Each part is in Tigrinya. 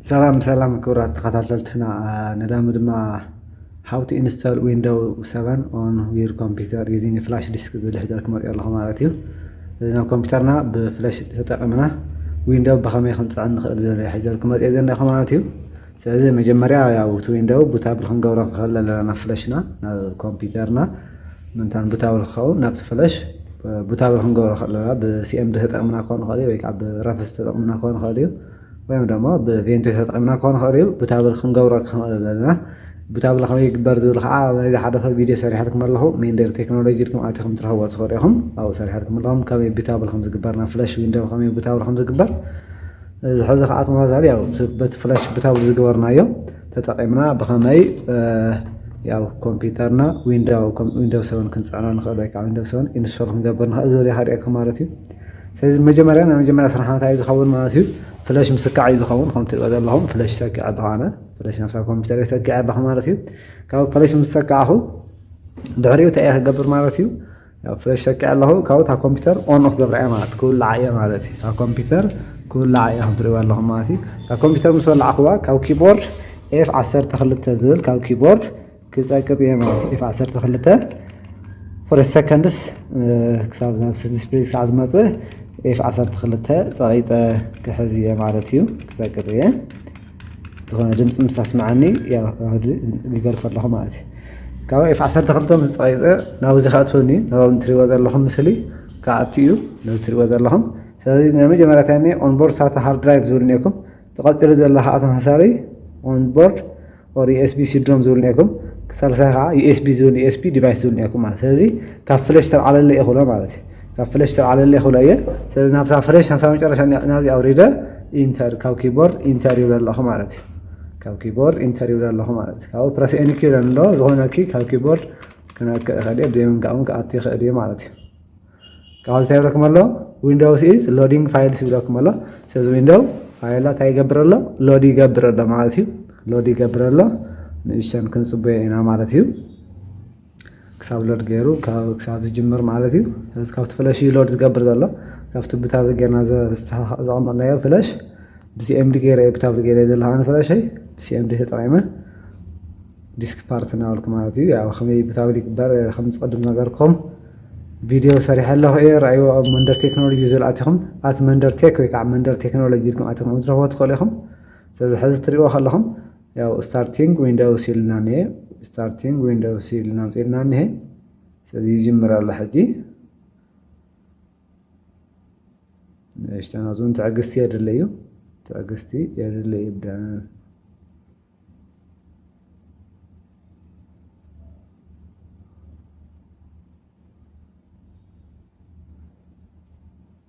ሰላም ሰላም ክብራት ተኸታተልትና ነዳሚ ድማ ሃው ቱ ኢንስቶል ዊንዶው ሰቨን ኦን ዩር ኮምፒውተር ዩዚንግ ፍላሽ ዲስክ ዝብል ሕደር ክመፅኦ ኣለኹ ማለት እዩ እዚ ናብ ኮምፒውተርና ብፍላሽ ተጠቂምና ዊንዶው ብኸመይ ክንፅዕን ንኽእል ዝብል ሕደር ክመፅኦ ዘለኹ ማለት እዩ ስለዚ መጀመርያ ያው እቲ ዊንዶው ቡታብል ክንገብሮ ንኽእል ኣለና ናብ ፍለሽና ናብ ኮምፒውተርና ምንታን ቡታብል ክኸውን ናብቲ ፍለሽ ቡታብል ክንገብሮ ንኽእል ኣለና ብሲኤምዲ ተጠቕምና ክኾን ይኽእል እዩ ወይ ከዓ ብረፍስ ተጠቕምና ክኾን ይኽእል እዩ ወይም ደሞ ብቬንቶ ተጠቒምና ክኾን ይኽእል እዩ ቡታብል ክንገብሮ ክንኽእል ኣለና ቡታብል ከመይ ይግበር ዝብል ከዓ ናይዚ ሓደፈ ቪድዮ ሰሪሐልኩም ኣለኹ ሜንደር ቴክኖሎጂ ኢልኩም ኣቲኹም ትረኽቦ ትኽእሉ ኢኹም ኣብኡ ሰሪሐልኩም ኣለኹም ከመይ ቡታብል ከም ዝግበር ናብ ፍለሽ ዊንዶው ከመይ ቡታብል ከም ዝግበር እዚ ሕዚ ከዓ ተመሳሳሊ ያው በቲ ፍላይ ሽብታዊ ዝገበርናዮ ተጠቂምና ብኸመይ ያው ኮምፒውተርና ዊንዶው ሰቨን ክንፅዕኖ ንኽእል ወይ ከዓ ዊንዶው ሰቨን ኢንስቶል ክንገብር ንኽእል ዝብል ይሃድኤኩም ማለት እዩ ስለዚ መጀመርያ ናይ መጀመርያ ስራሕ እንታይ እዩ ዝኸውን ማለት እዩ ፍለሽ ምስካዕ እዩ ዝኸውን ከም ትሪኦ ዘለኹም ፍለሽ ሰኪዐ ኣለኹ ኣነ ፍለሽ ናሳ ኮምፒውተር ሰኪዐ ኣለኹ ማለት እዩ ካብ ፍለሽ ምስ ሰካዕኹ ድሕሪኡ እንታይ እየ ክገብር ማለት እዩ ያው ፍለሽ ሰቂዐ ኣለኹ ካብኡ እታ ኮምፒተር ኦን ክገብራ እየ ማለት ክውላዓ እየ ማለት እዩ እታ ኮምፒተር ክውላዓ እየ ከም ትሪእዋ ኣለኹም ማለት እዩ እታ ኮምፒተር ምስ ወላዕኽዋ ካብ ኪቦርድ ኤፍ 12 ዝብል ካብ ኪቦርድ ክፀቅጥ እየ ማለት እዩ ኤፍ 12 ፍረስ ሰከንድስ ክሳብ ናብ ዲስፕሌይ ክሳዕ ዝመፅእ ኤፍ 12 ፀቂጠ ክሕዝ እየ ማለት እዩ ክፀቅጥ እየ ዝኾነ ድምፂ ምስ ኣስመዓኒ ይገልፆ ኣለኹ ማለት እዩ ካብ ኤፍ 12 ምስ ፀቂጠ ናብዚ ከኣትወኒ ናብ እትሪእዎ ዘለኹም ምስሊ ከኣቱ እዩ ነዚ እትሪእዎ ዘለኹም ስለዚ ናይ መጀመርያ እንታይ እኒ ኦንቦርድ ሳታ ሃርድ ድራይቭ ዝብል እኒኩም ተቐፂሉ ዘሎ ከዓ ተመሳሳሊ ኦንቦርድ ኦር ዩኤስቢ ሲድሮም ዝብል እኒኩም ሳልሳይ ከዓ ዩኤስቢ ዝብል ዩኤስቢ ዲቫይስ ዝብል እኒኩም ማለት ስለዚ ካብ ፍለሽ ተልዓለለ እዩ ክብሎ ማለት እዩ ካብ ፍለሽ ዝተልዓለለይ ክብሎ እየ ስለዚ ናብታ ፍለሽ ናብታ መጨረሻ ናብዚ ኣውሪደ ኢንተር ካብ ኪቦርድ ኢንተር ይብለ ኣለኹ ማለት እዩ ካብ ኪቦርድ ኢንተር ይብለ ኣለኹ ማለት እዩ ካብኡ ፕረስ ኤኒ ኪ ይብለኒ ኣሎ ዝኾነ ኪ ካብ ኪቦርድ ክነክእ ይኽእል እየ ብዘይምንካእ እውን ክኣቱ ይኽእል እየ ማለት እዩ ካብ እንታይ ይብለኩም ኣሎ ዊንዶውስ ኢዝ ሎዲንግ ፋይልስ ይብለኩም ኣሎ ስለዚ ዊንዶው ፋይላ እንታይ ይገብር ኣሎ ሎድ ይገብር ኣሎ ማለት እዩ ሎድ ይገብር ኣሎ ንእሸን ክንፅበዮ ኢና ማለት እዩ ክሳብ ሎድ ገይሩ ክሳብ ዝጅምር ማለት እዩ ስለዚ ካብቲ ፍለሽ እዩ ሎድ ዝገብር ዘሎ ካብቲ ብታብሊ ገይርና ዘቐመጥናዮ ፍለሽ ብሲኤምዲ ገይረ ብታብሊ ገይረ ዘለካ ንፍለሸይ ብሲኤምዲ ተጠቂመ ዲስክ ፓርት እናበልኩ ማለት እዩ ያው ከመይ ብታብሊ ይግበር ከም ዝቐድም ነገርኩም ቪድዮ ሰሪሐ ኣለኹ እየ ርኣይዎ ኣብ መንደር ቴክኖሎጂ ዝብል ኣቲኹም ኣት መንደር ቴክ ወይ ከዓ መንደር ቴክኖሎጂ ኢልኩም ኣቲኹም ክትረኽቦ ትኽእሉ ኢኹም ስለዚ ሕዚ ትሪእዎ ከለኹም ያው ስታርቲንግ ዊንዶውስ ኢልና እኒሀ ስታርቲንግ ዊንዶውስ ኢልና ኣምፂእልና እኒሀ ስለዚ ይጅምር ኣሎ ሕጂ ንእሽተን ኣብዚውን ትዕግስቲ የድሊ እዩ ትዕግስቲ የድሊ እዩ ብደን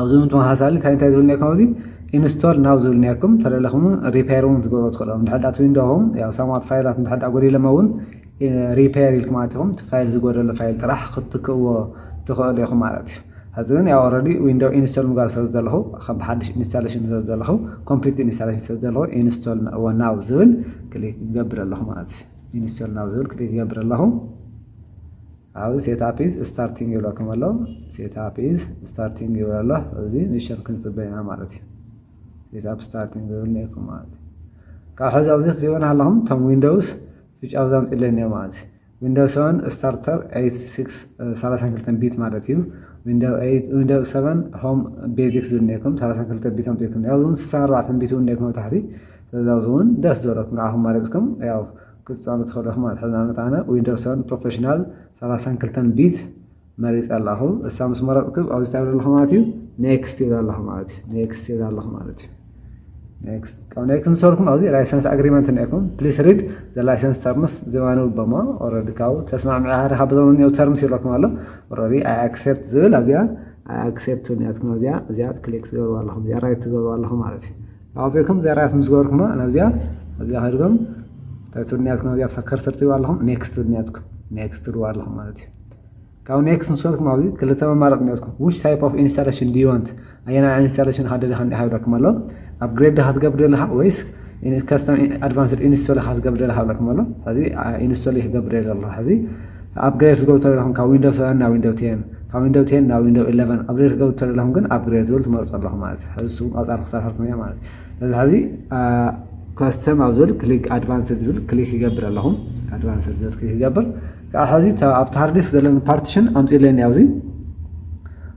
ኣብዚ ተመሳሳሊ እንታይ እንታይ ዝብል ኔርኩም ኣብዚ ኢንስቶል ናው ዝብል ኔርኩም ተለለኹም ሪፔር እውን ክትገብሩ ትኽእሉ እንድሕር እቲ ዊንዶኹም ያው ሳማት ፋይላት እንድሕር ጎዲሎሞ እውን ሪፔር ኢልኩም ኣቲኹም እቲ ፋይል ዝጎደሎ ፋይል ጥራሕ ክትክእዎ ትኽእሉ ኢኹም ማለት እዩ ሕዚ ግን ያው ኦልሬዲ ዊንዶው ኢንስቶል ምግባር ስለ ዘለኹ ከም ብሓድሽ ኢንስታሌሽን ስለ ዘለኹ ኮምፕሊት ኢንስታሌሽን ስለ ዘለኹ ኢንስቶል ናው ዝብል ክሊክ ይገብር ኣለኹ ማለት እዩ ኢንስቶል ናው ዝብል ክሊክ ይገብር ኣለኹ ኣብዚ ሴትኣፕ ኢዝ ስታርቲንግ ይብለኩም ኣሎ። ሴትኣፕ ኢዝ ስታርቲንግ ይብል ኣሎ። እዚ ንሸን ክንጽበ ኢና ማለት እዩ። ሴትኣፕ ስታርቲንግ ዝብል ነይኩም ማለት እዩ። ካብ ሕዚ ኣብዚ ክትሪእዎ ኣለኹም እቶም ዊንዶውስ ፍጭ ኣብ ዛምፅለይ እኒኦ ማለት እዩ። ዊንዶው 7 ስታርተር 32 ቢት ማለት እዩ። ዊንዶው 7 ሆም ቤዚክ ዝብል ነይኩም 32 ቢት ኣምፅልኩም ኣብዚ እውን 64 ቢት እውን ነይኩም ኣብ ታሕቲ ስለዚ ኣብዚ እውን ደስ ዝበለኩም ንዓኹም መሪፅኩም ያው ክትጻወቱ ትኽእሉ ኢኹም ማለት ሕዚ ንኣብነት ኣነ ዊንዶውስ ሰቨን ፕሮፌሽናል ሰላሳን ክልተን ቢት መሪጸ ኣለኹ እሳ ምስ መረጽኩ ኣብዚ እንታይ ኣለኹ ማለት እዩ ኔክስት ይብል ኣለኹ ማለት እዩ ኔክስት ይብል ኣለኹ ማለት እዩ ኔክስት ካብ ኔክስት ምስ በልኩም ኣብዚ ላይሰንስ ኣግሪመንት እኒኤኩም ፕሊስ ሪድ ዘ ላይሰንስ ተርምስ ዝባንብ በሞ ኦልሬዲ ካብኡ ተስማዕምዒ ሃሪኻ ብዞም እኒው ተርምስ ይብለኩም ኣሎ ኦልሬዲ ኣይ ኣክሴፕት ዝብል ኣብዚኣ ኣይ ኣክሴፕት እኒኣትኩም ኣብዚኣ እዚኣ ክሊክ ትገብርዋ ኣለኹም እዚኣ ራይት ትገብርዋ ኣለኹም ማለት እዩ ኣውጺእኩም ዘራያት ምስ ገበርኩማ ናብዚኣ ኣብዚኣ ከድኩም እንታይ ትብሉ ኔርኩም ኣብዚኣ ብሳ ከርሰር ትብሉ ኣለኹም ኔክስት ትብሉ ኔርኩም ኔክስት ትብሉ ኣለኹም ማለት እዩ ካብ ኔክስት ምስ በልኩም ኣብዚ ክልተ መማረፂ ኔርኩም ዊች ታይፕ ኦፍ ኢንስታሌሽን ዱ ወንት ኣየና ኢንስታሌሽን ኢኻ ደሊኻ እንዲኻ ይብለኩም ኣሎ ኣብ ግሬድ ዲኻ ትገብር ደለኻ ወይስ ከስተም ኣድቫንስድ ኢንስቶል ኢኻ ትገብር ደለኻ ይብለኩም ኣሎ ሕዚ ኢንስቶል ክገብር ደለ ኣለኹ ሕዚ ን ኣፕግሬድ ክትገብሩ ተለኹም ካብ ዊንዶው ሰቨን ናብ ዊንዶው ቴን ካብ ዊንዶው ቴን ናብ ዊንዶው ኢለቨን ኣፕግሬድ ክትገብሩ ተለኹም ግን ኣፕግሬድ ዝብል ትመርጹ ኣለኹም ማለት እዩ ሕዚ ስቡ ቀጻሊ ክሰርሐልኩም እየ ማለት እዩ ስለዚ ሕዚ ከስተም ኣብ ዝብል ክሊክ ኣድቫንስድ ዝብል ክሊክ ይገብር ኣለኹ ኣድቫንስድ ዝብል ክሊክ ይገብር ከዓ ሕዚ ኣብቲ ሃርዲስ ዘለኒ ፓርቲሽን ኣምፅለኒ ኣብዚ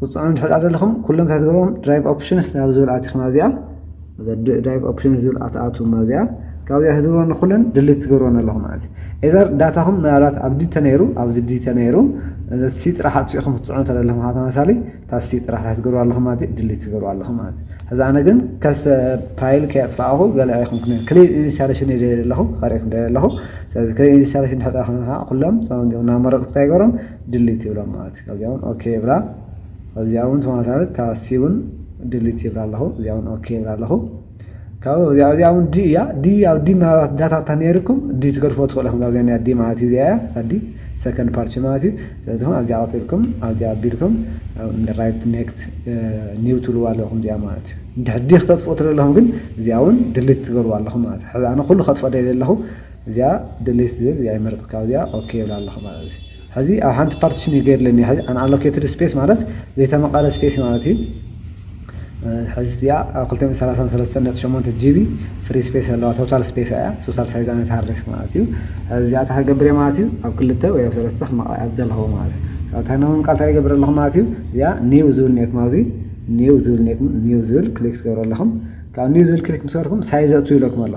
ክትፅዕኑ እንድሕር ድኣ ደለኹም ኩሎም እንታይ ትገብሮም ድራይቭ ኦፕሽንስ ናብ ዝብል ኣቲኹም ኣብዚኣ ድራይቭ ኦፕሽንስ ዝብል ኣትኣትዎም ኣብዚኣ ካብዚኣ ትገብርዎ ንኩለን ድሊት ትገብርዎን ኣለኹም ማለት እዩ ኤዘር ዳታኹም ምናልባት ኣብ ዲ ተነይሩ ኣብዚ ዲ ተነይሩ ሲ ጥራሕ ኣጥፊእኹም ክትፅዕኑ ተደለኹም ከዓ ተመሳሊ እታ ሲ ጥራሕ እንታይ ትገብርዋ ኣለኹም ማለት እዩ ድሊት ትገብርዋ ኣለኹም ማለት እዩ ሕዚ ኣነ ግን ከሰ ፋይል ከየጥፋእኹ ገለ ኣይኮንኩን ክሊን ኢንስታሌሽን እየ ደልየ ኣለኹ ከርእየኩም ደልየ ኣለኹ ስለዚ ክሊን ኢንስታሌሽን ድሕር ድኣ ኮይንካ ኩሎም እቶም እናመረፅኩ እንታይ ይገብሮም ድሊት ይብላ ማለት እዩ ካብዚኣ ውን ኦኬ ይብላ ካብዚኣ ውን ተመሳሳሊ እታ ሲ ውን ድሊት ይብላ ኣለኹ እዚኣ ውን ኦኬ ይብላ ኣለኹ ካብኡ እዚኣ እዚኣ ውን ዲ እያ ዲ ኣብ ዲ ምናልባት ዳታ እታ ነይርኩም ዲ ትገድፎ ትኽእሉ ኢኹም ካብዚኣ ናይ ዲ ማለት እዩ እዚኣ እያ እታ ዲ ሰከንድ ፓርቲ ማለት እዩ ስለዚ ኹም ኣብዚኣ ቀጢልኩም ኣብዚኣ ኣቢልኩም ራይት ኔክት ኒው ትብልዋ ኣለኹም እዚኣ ማለት እዩ ድሕዲ ክተጥፍኡ ትደለኹም ግን እዚኣ ውን ድሊት ትገብርዋ ኣለኹም ማለት እዩ ሕዚ ኣነ ኩሉ ከጥፍኦ ደልየ ኣለኹ እዚኣ ድሊት ዝብል እዚኣ ይመርጽ ካብ እዚኣ ኦኬ ይብላ ኣለኹ ማለት እዩ ሕዚ ኣብ ሓንቲ ፓርቲሽን እዩ ገይርለኒ ሕዚ ኣንኣሎኬትድ ስፔስ ማለት ዘይተመቐለ ስፔስ ማለት እዩ ሕዚ እዚኣ ኣብ ክልተ ሚእቲ ሰላሳን ሰለስተን ነጥቢ ሸሞንተ ጂቢ ፍሪ ስፔስ ኣለዋ ቶታል ስፔስ እያ ቶታል ሳይዛ ናይቲ ሃርድ ዲስክ ማለት እዩ ሕዚ እዚኣ እንታይ ክገብር እየ ማለት እዩ ኣብ ክልተ ወይ ኣብ ሰለስተ ክመቐ ኣብ ዘለኹ ማለት እዩ ኣብ እንታይ ናብ ምምቃል እንታይ ይገብር ኣለኹ ማለት እዩ እዚኣ ኒው ዝብል ኔኩም ኣብዚ ኒው ዝብል ኔኩም ኒው ዝብል ክሊክ ትገብሩ ኣለኹም ካብ ኒው ዝብል ክሊክ ምስ ገበርኩም ሳይዝ ኣቱ ይብለኩም ኣሎ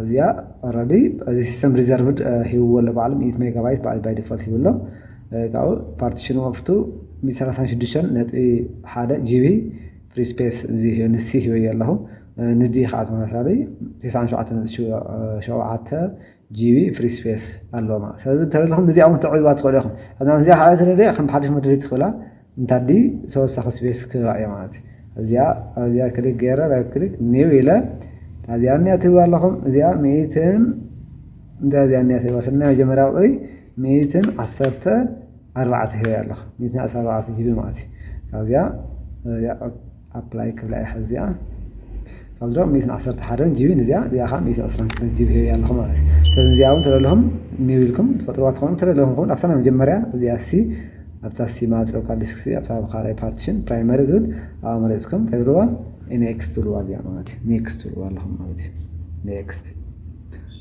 እዚኣ ኦረዲ እዚ ሲስተም ሪዘርቭድ ሂብዎ ኣሎ ባዕሉ ሚእቲ ሜጋባይት ባዕሉ ባይ ዲፎልት ሂቡ ኣሎ ካብኡ ፓርቲሽኑ ወቅቱ ሚእቲ ሰላሳን ሽዱሽተን ነጥቢ ሓደ ጂቢ ፍሪ ስፔስ እዚ ንሲ ሂበዮ ኣለኹ ንዲ ከዓ ተመሳሳሊ ቴስዓን ሸውዓተን ነጥቢ ሸውዓተ ጂቢ ፍሪ ስፔስ ኣለዎ ማለት እዩ ስለዚ እንተለኹም እዚኣ እውን ተዕብይዋ ትኽእሉ ኢኹም እዚኣ ከዓ እንተደሊየ ከም ሓዱሽ መደልይቲ ክብላ እንታዲ ተወሳኺ ስፔስ ክህባ እየ ማለት እዩ እዚኣ ኣብዚኣ ክሊክ ገይረ ራይት ክሊክ ኒው ኢለ እዚኣ እኒኣ ትብሉ ኣለኹም እዚኣ ሚእትን እንታይ እዚኣ እኒኣ ትብሉ ስለ ናይ መጀመርያ ቁፅሪ ሚእትን ዓሰርተ ኣርባዕተ ሂበ ኣለኹ ሚእትን ዓሰርተ ኣርባዕተ ጂቢ ማለት እዩ ካብዚኣ ኣፕላይ ክብላ እየ ሕዚ እዚኣ ካብዚ ድማ ሚእትን ዓሰርተ ሓደን ጂቢ ንዚኣ እዚኣ ከዓ ሚእቲ ዕስራን ክልተን ጂቢ ሂበያ ኣለኹ ማለት እዩ ስለዚ እዚኣ እውን ተደለኹም ኒው ኢልኩም ትፈጥርዋ ትኾኑ ተደለኹም ከውን ኣብታ ናይ መጀመርያ ኣብዚኣ ሲ ኣብታ ሲ ማለት ሎካል ዲስክ ሲ ኣብታ ኣብ ካልኣይ ፓርቲሽን ፕራይመሪ ዝብል ኣብኣ መሪፅኩም እንታይ ትብልዋ ኔክስት ትብልዋ እዚኣ ማለት እዩ ኔክስት ትብልዋ ኣለኹም ማለት እዩ ኔክስት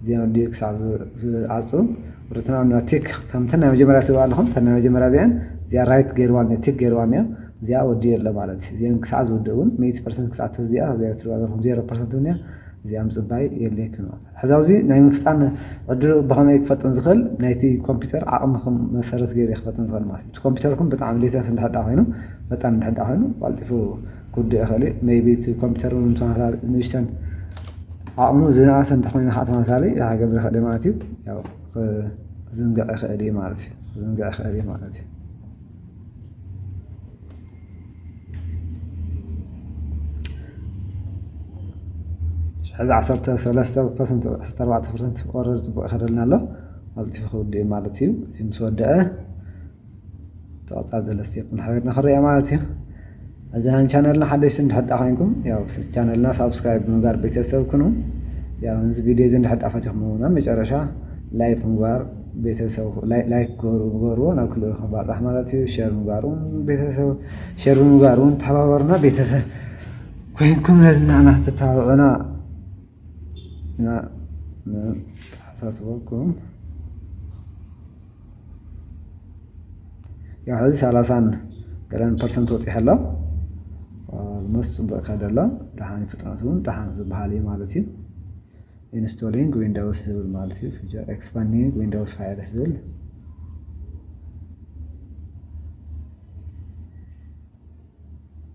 እዚኦም ኣዲኡ ክሳብ ዝዓጹ ርትና ን ቲክ ከምተን ናይ መጀመርያ ትብሉ ኣለኹም ተን ናይ መጀመርያ እዚኣን እዚኣ ራይት ገይርዋን ቲክ ገይርዋን እዮ እዚኣ ወዲኡ ኣሎ ማለት እዩ እዚኣን ክሳዕ ዝውድእ እውን ሚእቲ ፐርሰንት ክሳዕ ትብል እዚኣ ዜሮ ትብሉ ኣለኹም ዜሮ ፐርሰንት እውን እያ እዚኣ ምጽባይ የድልየኩም ማለት ሕዚ ኣብዚ ናይ ምፍጣን ዕድሉ ብኸመይ ክፈጥን ዝኽእል ናይቲ ኮምፒውተር ዓቕምኹም መሰረት ገይረ ክፈጥን ዝኽእል ማለት እዩ እቲ ኮምፒውተርኩም ብጣዕሚ ሌተስ እንድሕር ኮይኑ ፈጣን እንድሕር ኮይኑ ቀልጢፉ ክውድእ ይኽእል እዩ ሜይቢ እቲ ኮምፒተር ውን ተመሳሳሊ ንእሽተን ዓቕሙ ዝነኣሰ እንተኾይኑ ኻዓ ተመሳሳሊ ክገብር ይኽእል እዩ ማለት እዩ ያው ክዝንግዕ ይኽእል እዩ ማለት እዩ ክዝንግዕ ይኽእል እዩ ማለት እዩ። ሕዚ ዓሰርተ ሰለስተ ፐርሰንት ዓሰርተ ኣርባዕተ ፐርሰንት ኦረዲ ፅቡቕ ይኸደልና ኣሎ ቀልጢፉ ክውድእ እዩ ማለት እዩ እዚ ምስ ወደኣ ተቐጻል ዘሎ ስቴፕ ንሓቢርና ክንሪኣ ማለት እዩ እዚ ን ቻነልና ሓደሽቲ እንድሕር ዳኣ ኮይንኩም ያው ቻነልና ሳብስክራይብ ብምግባር ቤተሰብ ኩኑ ያው እዚ ቪድዮ እዚ እንድሕር ዳኣ ፈቲኹም ናብ መጨረሻ ላይክ ምግባር ቤተሰብ ላይክ ግበርዎ ናብ ክልኡ ክንባፃሕ ማለት እዩ ሸር ምግባር እውን ቤተሰብ ሸር ብምግባር እውን ተሓባበሩና ቤተሰብ ኮይንኩም ነዚ ንዓና ተተባብዑና ኢና ንተሓሳስበኩም ያው ሕዚ ሰላሳን ገለን ፐርሰንት ወፂሑ ኣሎ መስ ፅቡቅ ይኸድ ኣሎ ደሓን ፍጥነቱ እውን ደሓን ዝበሃል እዩ ማለት እዩ ኢንስቶሊንግ ዊንዳውስ ዝብል ማለት እዩ ፊቸር ኤክስፓንዲንግ ዊንዳውስ ፋይልስ ዝብል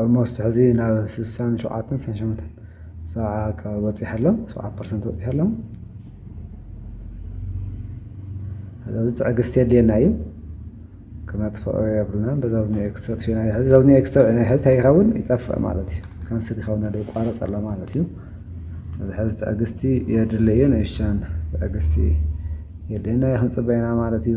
ኦልሞስት ሕዚ ናብ ስሳን ሸውዓተን ስሳን ሸሞንተን ሰብዓ ኣካባቢ በፂሑ ኣሎ ሰብዓ ፐርሰንት በፂሑ ኣሎ ኣብዚ ትዕግስቲ የድልየና እዩ ክነጥፍኦ የብልና በዛ ብኒ ኤክስ ተጥፊና ሕዚ ዘብኒ ኤክስ ናይ ሕዚ እንታይ ይኸውን ይጠፍእ ማለት እዩ ካንስል ይኸውን ኣሎ ይቋረፅ ኣሎ ማለት እዩ ሐዚ ትዕግስቲ የድልዮ እዩ ንእሽተን ትዕግስቲ የድልየና እዩ ክንፅበይ ኢና ማለት እዩ።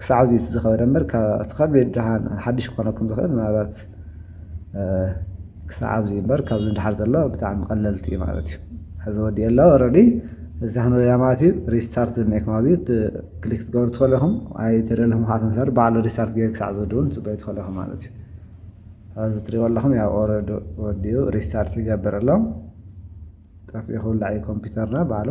ክሳዕ እዚ ዝኸበደ እምበር እቲ ከቢድ ድሓን ሓድሽ ክኾነኩም ዝኽእል ምናልባት ክሳዕ ኣብዚ እምበር ካብዚ ንድሓር ዘሎ ብጣዕሚ ቀለልቲ እዩ ማለት እዩ ሕዚ ወዲኤ ኣሎ ረዲ እዚ ክንሪና ማለት እዩ ሪስታርት ዝኒኤኩም ኣብዚ ክሊክ ትገብሩ ትኽእሉ ኢኹም ኣይተደለኹም ካዓ ተመሳሪ ባዕሉ ሪስታርት ገይሩ ክሳዕ ዝወዲ እውን ፅበዩ ትኽእሉ ኢኹም ማለት እዩ ኣብዚ ትሪእዎ ኣለኹም ያው ኦረዲ ወዲኡ ሪስታርት ይገብር ኣሎ ጠፊኡ ክውላዕ እዩ ኮምፒውተርና ባዕሉ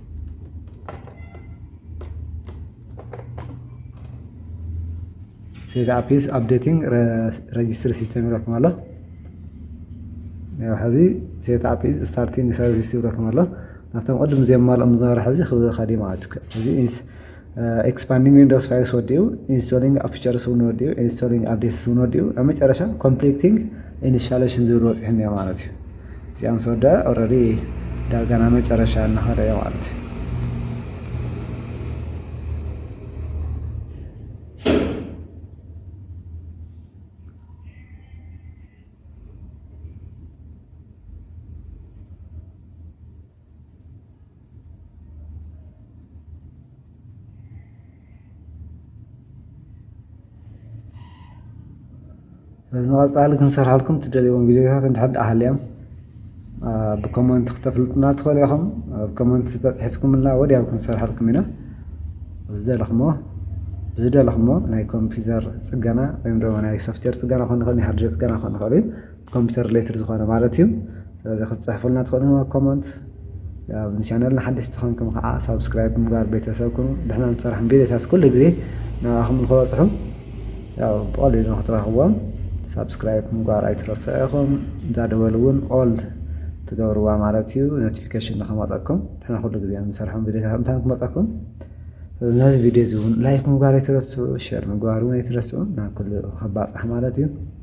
ሴት ኣፕ ኢዝ ኣፕዴቲንግ ረጅስትሪ ሲስተም ይብለኩም ኣሎ ሕዚ ሴት ኣፕ ኢዝ ስታርቲንግ ሰርቪስ ይብለኩም ኣሎ ናብቶም ቅድም ዘየማልኦም ዝነበረ ሕዚ ክብል ከዲማ እዚ ኤክስፓንዲንግ ዊንዶውስ ፋይልስ ወዲኡ ኢንስቶሊንግ ኣፕቸርስ እውን ወዲኡ ኢንስቶሊንግ ኣፕዴትስ እውን ወዲኡ ኣብ መጨረሻ ኮምፕሊቲንግ ኢንስታሌሽን ዝብል ወፂሑ እኒኦ ማለት እዩ እዚኣ ምስ ወደአ ኦልሬዲ ዳርጋ ናብ መጨረሻ እናኸደ እዮ ማለት እዩ ንቐፃሊ ክንሰርሓልኩም ትደልይዎም ቪድዮታት እንድሕር ደኣ ሃልዮም ብኮመንት ክተፍልጡና ትኽእሉ ኢኹም። ኣብ ኮመንት ተፅሒፍኩምልና ወዲያው ክንሰርሓልኩም ኢና። ዝደለኹሞ ዝደለኹሞ ናይ ኮምፒተር ፅገና ወይ ድማ ናይ ሶፍትዌር ፅገና ክኾን ይኽእል፣ ናይ ሃርድዌር ፅገና ክኾን ይኽእል እዩ። ኮምፒተር ሪሌትድ ዝኾነ ማለት እዩ። ስለዚ ክትፅሕፉልና ትኽእሉ ኣብ ኮመንት። ኣብ ቻነልና ሓደሽቲ ኾንኩም ከዓ ሳብስክራይብ ምግባር ቤተሰብ ኩኑ። ንሕና ንሰርሖም ቪድዮታት ኩሉ ግዜ ንዓኹም ንክበፅሑ ያው ብቐሊሉ ንክትረኽብዎም ሳብስክራይብ ምግባር ኣይትረስዑ ኢኹም። እዛ ደወል እውን ኦል ትገብርዋ ማለት እዩ ኖቲፊኬሽን ንክመፀኩም ንሕና ኩሉ ግዜ ንሰርሖም ቪድዮታት እንታይ ክመፀኩም ነዚ ቪድዮ እዚ እውን ላይክ ምግባር ኣይትረስዑ ሸር ምግባር እውን ኣይትረስዑ ናብ ኩሉ ክባፃሕ ማለት እዩ።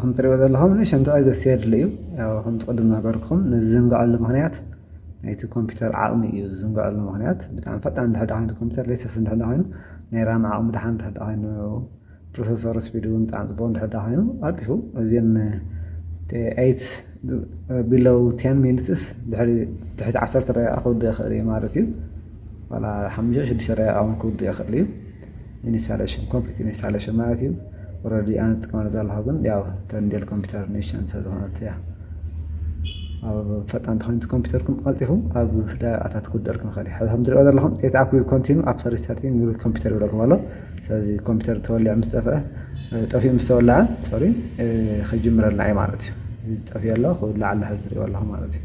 ከም ትሪእዎ ዘለኹም ንእሽተን ትዕግስቲ የድሊ እዩ። ያው ከምቲ ቅድም እናበልኩም ንዝዝንግዐሉ ምኽንያት ናይቲ ኮምፒውተር ዓቕሚ እዩ ዝዝንግዐሉ ምኽንያት ብጣዕሚ ፈጣን ድሕር ኮይኑ ኮምፒውተር ሌተስ እንድሕር ኮይኑ ናይ ራም ዓቕሚ ድሓን ድሕር ኮይኑ ፕሮሰሰር ስፒድ እውን ብጣዕሚ ፅቡቕ እንድሕር ዳ ኮይኑ ኣጢፉ እዚን ኤይት ቢሎው ቴን ሚኒትስ ድሕሪ ትሕቲ ዓሰርተ ደቂቃ ክውድእ ይኽእል እዩ ማለት እዩ ዋላ ሓሙሽተ ሽዱሽተ ደቂቃ እውን ክውድእ ይኽእል እዩ ኢንስታሌሽን ኮምፕሊት ኢንስታሌሽን ማለት እዩ ኦልሬዲ ኣነ ትጥቀመሉ ዘለኹ ግን ያው ተንዴል ኮምፒውተር ኒሽን ስለዝኾነት እያ ኣብ ፈጣን ተኾይንቲ ኮምፒውተርኩም ቀልጢፉ ኣብ ደቂቃታት ክውደልኩም ይኽእል እዩ ሕዚ ከም ትሪኦ ዘለኹም ሴት ኣፕ ኮንቲኑ ኣብ ሰርቪስ ሰርቲን ኮምፒውተር ይብለኩም ኣሎ ስለዚ ኮምፒተር ተወሊዑ ምስ ጠፍአ ጠፊኡ ምስ ተወልዐ ሶሪ ክጅምረልና እዩ ማለት እዩ እዚ ጠፊኡ ኣሎ ክውላዕ ኣሎ ሕዚ ዝሪኦ ኣለኹ ማለት እዩ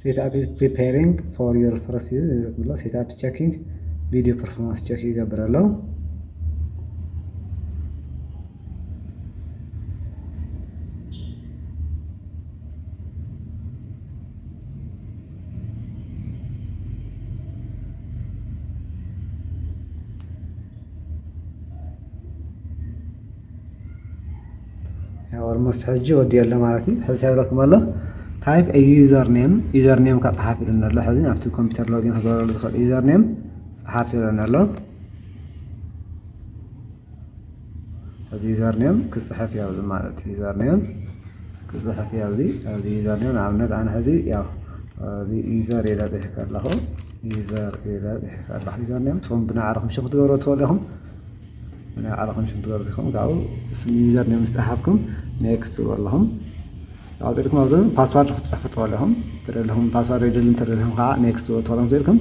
ሴት ኣፕ ኢዝ ፕሪፓሪንግ ፎር ዩር ፈርስት ዩዝ ብሎ ሴት ኣፕ ቸኪንግ ቪዲዮ ፐርፎርማንስ ቸክ ይገብር ኣሎ ኦልሞስት ሕጂ ወዲኦ ኣሎ ማለት እዩ ሕዚ እንታይ ይብለኩም ኣሎ ታይፕ ዩዘር ኔም ዩዘር ኔም ካብ ፀሓፍ ኢሉኒ ኣሎ ሕዚ ናብቲ ኮምፒውተር ሎጊን ክገብረሉ ዝኽእል ዩዘር ኔም ፀሓፍ ኢሉኒ ኣሎ ሕዚ ዩዘር ኔም ክፅሕፍ ያው እዚ ማለት እዩ ዩዘር ኔም ክፅሕፍ ያው እዚ ኣብዚ ዩዘር ኔም ንኣብነት ኣነ ሕዚ ያው ዩዘር ኢለ ፅሒፈ ኣለኹ ዩዘር ኢለ ፅሒፈ ኣለኹ ዩዘር ኔም ቶም ብናዕርኹም ሽም ክትገብሩ ትኽእሉ ኢኹም ናይ ባዕልኹም ሽም ትገብሩ ኢኹም ካብኡ ስም ዩዘር ኔም ዝፀሓፍኩም ኔክስት ትብሉ ኣለኹም ካብኡ ፅድኩም ኣብዚ ፓስዋርድ ክትፅሕፉ ትኽእሉ ኣለኹም ተደለኹም ፓስዋርድ የድሊ እንተደለኹም ከዓ ኔክስት ትብሉ ትኽእሎም ትልኩም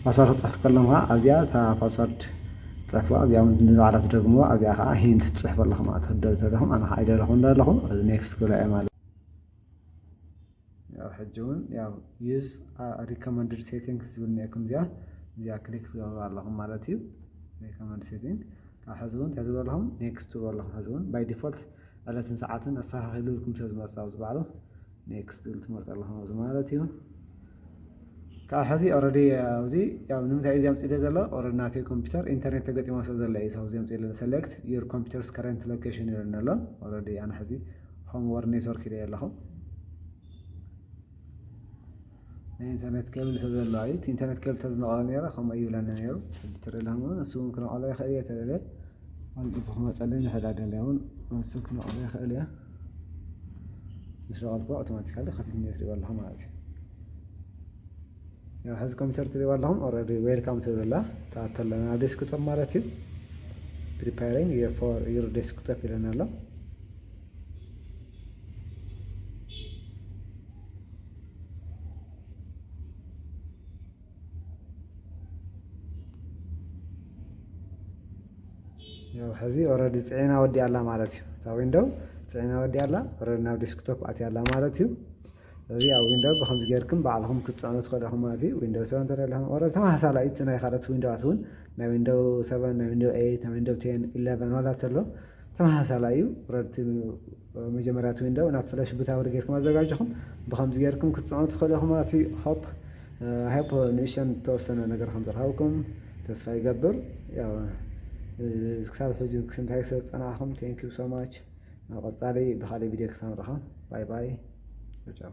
ፓስዋርድ ክትፅሕፉ ከለኹም ከዓ ኣብዚኣ እታ ፓስዋርድ ትፅሕፉ ኣብዚኣ እውን ንባዕላ ትደግምዎ ኣብዚኣ ከዓ ሂንት ትፅሕፉ ኣለኹም ማለት ተደለኹም ኣነ ከዓ ኣይደለኹም ኣለኹ ኔክስት ክብላ እየ ማለት ያው ሕጂ እውን ያው ዩዝ ሪኮመንድድ ሴቲንግስ ዝብል ኒኤኩም እዚኣ እዚኣ ክሊክ ትገብሩ ኣለኹም ማለት እዩ ሪኮመንድ ሴቲንግ ካብ ሕዚ እውን እንታይ ትብሉ ኣለኹም ኔክስት ትብሉ ኣለኹም ሕዚ እውን ባይ ዲፎልት ዕለትን ሰዓትን ኣስተኻኺሉ ኢልኩም ስለ ዝመፅእ ኣብዚ ባዕሉ ኔክስት ዝብል ትመርፁ ኣለኹም ኣብዚ ማለት እዩ ካብ ሕዚ ኦረዲ ኣብዚ ያው ንምንታይ እዩ ዘምፅእ ዘሎ ኦረዲ ናተይ ኮምፒውተር ኢንተርኔት ተገጢሞ ስለ ዘሎ እዩ ኣብዚ ዘምፅእ ዘሎ ሰሌክት ዩር ኮምፒውተርስ ከረንት ሎኬሽን ይብለኒ ኣሎ ኦረዲ ኣነ ሕዚ ሆም ወር ኔትወርክ ኢለ ኣለኹ ናይ ኢንተርኔት ኬብል ተዘለዋ እዩ እቲ ኢንተርኔት ኬብል ተዝነቐለ ነረ ከምኡ ይብለኒ ነይሩ ሕጂ ተደላም እውን እሱ እውን ክነቐሎ ይኽእል እየ ተደለ ኣንጥፉ ክመፀለይ ንሕዳ ደለ እውን እሱ ክነቐሎ ይኽእል እየ ምስ ነቐልኩ ኣውቶማቲካሊ ከፊት ኔት ሪኦ ኣለኹ ማለት እዩ ያው ሕዚ ኮምፒውተር ትሪእዋ ኣለኹም ኦልሬዲ ዌልካም ትብል ኣላ ትኣቱ ኣለና ናብ ዴስክቶፕ ማለት እዩ ፕሪፓሪንግ ፎር ዩር ዴስክቶፕ ይለና ኣሎ ያው ሕዚ ኦልሬዲ ፅዒና ወዲኣ ኣላ ማለት እዩ እታ ዊንዶው ፅዒና ወዲኣ ኣላ ኦልሬዲ ናብ ዴስክቶፕ ኣትያ ኣላ ማለት እዩ እዚ ኣብ ዊንዶው ብከምዚ ጌርኩም ባዕልኹም ክትጽዕኑ ትኽእሉ ኢኹም ማለት እዩ ዊንዶው ሰቨን ተደሊኹም ኦረ ተመሳሳሊ እዩ ናይ ካልኦት ዊንዶዋት እውን ናይ ዊንዶው ሰቨን ናይ ዊንዶው ኤይት ናይ ዊንዶው ቴን ኢለቨን ዋላ ተሎ ተመሳሳሊ እዩ ረድቲ መጀመርያ እቲ ዊንዶው ናብ ፍለሽ ቡታብሪ ጌርኩም ኣዘጋጅኹም ብከምዚ ጌርኩም ክትጽዕኑ ትኽእሉ ኢኹም ማለት እዩ ሆፕ ሃይፖ ንእሽተን ተወሰነ ነገር ከም ዝረኸብኩም ተስፋ ይገብር ያው ክሳብ ሕዚ ክስንታይ ስለ ዝጸናሕኹም ቴንክ ዩ ሶ ማች ኣብ ቀፃሊ ብካሊእ ቪድዮ ክሳብ ንራከብ ባይ ባይ ቻው ቻው።